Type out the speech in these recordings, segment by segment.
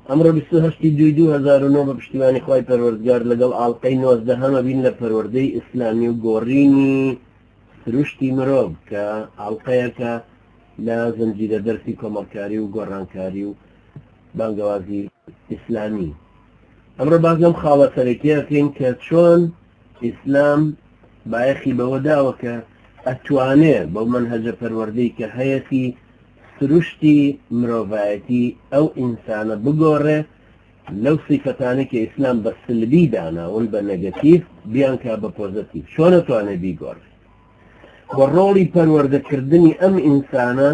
ئەمڕۆ بیست و هەشت ی دووی دوو هەزار و نۆ بە پشتیوانی خوای پەروەردگار لەگەڵ ئاڵقەی نۆزدەهەم ئەبین لە پەروەردەی ئیسلامی و گۆڕینی سروشتی مرۆڤ کە ئاڵقەیەکە لە زنجیرە دەرسی کۆمەڵکاری و گۆڕانکاری و بانگەوازی ئیسلامی ئەمڕۆ باس لەم خاڵە سەرەکیە بکەین کە چۆن ئیسلام بایەخی بەوە داوە کە ئەتوانێ بەو منهەجە پەروەردەی کە هەیەتی سروشتی مرۆڤایەتی ئەو ئینسانە بگۆڕێ لەو سیفەتانەی کە ئیسلام بە سلبی داناون بە نەگەتیڤ بیانکا بە پۆزەتیڤ چۆن ئەتوانێ بیگۆڕێ و ڕۆڵی پەروەردەکردنی ئەم ئینسانە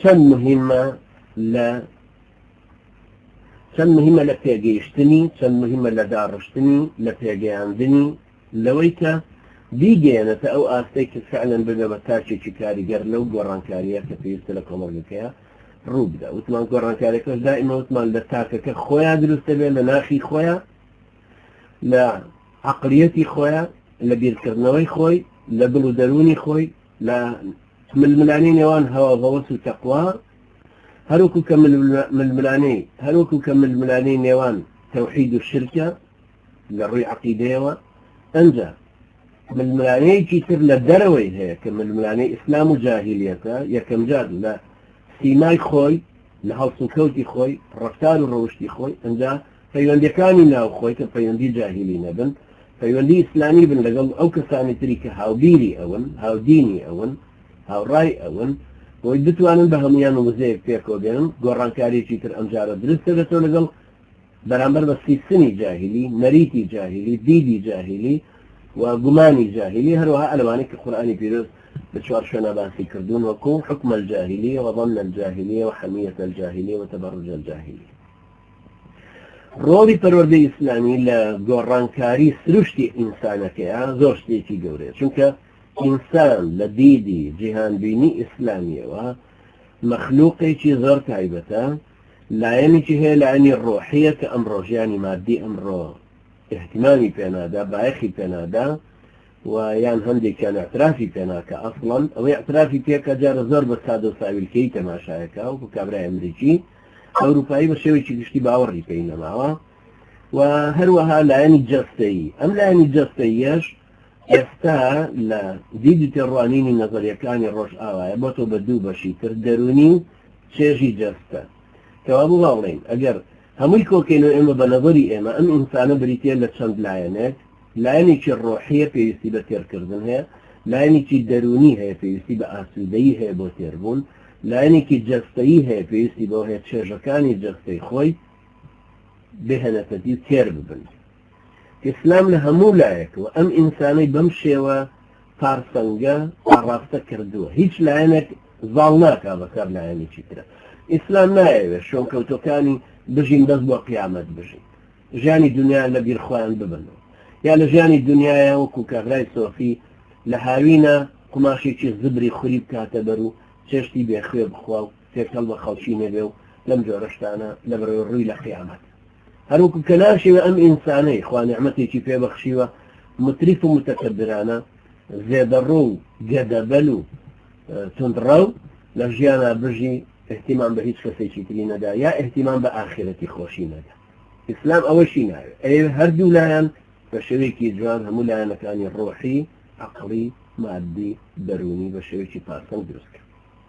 چەند مهمە لە چەند مهمە لە پێگەیشتنی چەند مهمە لە داڕشتنی لە پێگەیاندنی لەوەی کە بیگەیەنێتە ئەو ئاستەی کە فعلەن ببێ بە تاکێکی کاریگەر لەو گۆڕانکارییە کە پێویستە لە کۆمەڵگەکەیا ڕوو بدا وتمان گۆڕانکاریەکەش دائیمە وتمان لە تاکەکە خۆیان دروستە بێ لە ناخی خۆیان لە عقلیەتی خۆیان لە بیرکردنەوەی خۆی لە دڵ و دەروونی خۆی لە ململانی نێوان هەوا بەوەس و تەقوا هەروکو کە ململانەی هەروکو کە ململانەی نێوان تەوحید و شرکە لە ڕووی عەقیدەیەوە، ئەنجا ململانێیەکی تر لە دەرەوەی هەیە کە ململانێی ئیسلام و جاهیلیەتە، یەکەمجار لە سیمای خۆی، لە هەڵسوکەوتی خۆی، ڕەفتار و ڕەوشتی خۆی، ئەنجا پەیوەندیەکانی ناو خۆی کە پەیوەندی جاهیلی نەبن، پەیوەندی ئیسلامی بن لەگەڵ ئەو کەسانی تری کە هاوبیری ئەون، هاودینی ئەون، هاوڕای ئەون، بۆی بتوانن بە هەموویان وزەیەک پێکەوە بێنن، گۆڕانکاریەکی تر ئەمجارە دروست دەبێتەوە لەگەڵ. بەرامبەر بە سیستمی جاهیلی، نەریتی جاهیلی، دیدی جاهیلی و گومانی جاهیلی، هەروەها ئەلەوانەی کە قورئانی پیرۆز لە چوار شوێنا باسی کردوون وەکو، حکم الجاهلیە و ظن الجاهلیە و حمیە الجاهلیە و تبرج الجاهلیە. ڕۆڵی پەروەردەی ئیسلامی لە گۆڕانکاری سروشتی ئینسانەکەیا زۆر شتێکی گەورەیە، چونکە ئینسان لە دیدی جیهانبینی ئیسلامیەوە مەخلوقێکی زۆر تایبەتە، لایەنیکی هەیە لایەنی ڕۆحیە کە ئەمڕۆ ژیانی مادی ئەمڕۆ ئیهتیمامی پێ نادا بایەخی پێ نادا و یان هەندێکیان ئیعترافی پێ ناکا ئەسڵەن ئەوەی ئیعترافی پێ کە جارە زۆر بە سادە و ساویلکەی تەماشایەکە وەکو کابرای ئەمریکی ئەوروپایی بە شێوەیەکی گشتی باوەڕی پێی نەماوە و هەروەها لایەنی جەستەیی ئەم لایەنی جەستەییەش ئێستا لە دیدی تێڕوانینی نەزەریەکانی ڕۆژئاوایە بۆتۆ بە دوو بەشی تر دەرونی و چێژی جەستە. کەوا بۆ وا بڵێین ئەگەر هەمووی کۆکەینەوە ئێمە بە نەزەری ئێمە ئەم ئینسانە بریتییە لە چەند لایەنێک، لایەنێکی ڕۆحییە پێویستی بە تێرکردن هەیە، لایەنێکی دەروونی هەیە پێویستی بە ئاسوودەیی هەیە بۆ تێربوون، لایەنێکی جەستەیی هەیە پێویستی بەوە هەیە چێژەکانی جەستەی خۆی بهێنێتە دی و تێر ببن. ئیسلام لە هەموو لایەکەوە ئەم ئینسانەی بەم شێوە پارسەنگە ئاڕاستە کردووە، هیچ لایەنێک زاڵ ناکا بەسەر لایەنێکی ترا. ئیسلام نایەوێت شوێنکەوتووەکانی بژین بەس بۆ قیامەت بژین، ژیانی دونیایان لە بیر خۆیان ببەنەوە، یا لە ژیانی دونیایا وەکوو کابرای سۆفی لە هاوینا قوماشێکی زبری خوری بکاتە بەر و چێشتی بێ خوێ بخوا و تێکەڵ بە خەڵکی نەبێ و لەم جۆرە شتانە لە بەرەوەی ڕووی لە قیامەت. هەروەکو کە ناشیوێ ئەم ئینسانەی خوا نیعمەتێکی پێ بەخشیوە متریف و متەکەبرانە زێدەڕۆ و گەدەبەل و توندڕەو لە ژیانا بژی احتیمام بە هیچ کەسێکی تری نەدا یا احتیمام بە ئاخرەتی خۆشی نەدا ئیسلام ئەوەشی ناوێ ئەوێ هەردوو لایەن بە شێوەیەکی جوان هەموو لایەنەکانی ڕۆحی عقڵی مادی دەروونی بە شێوەیەکی پاسەو دروستکە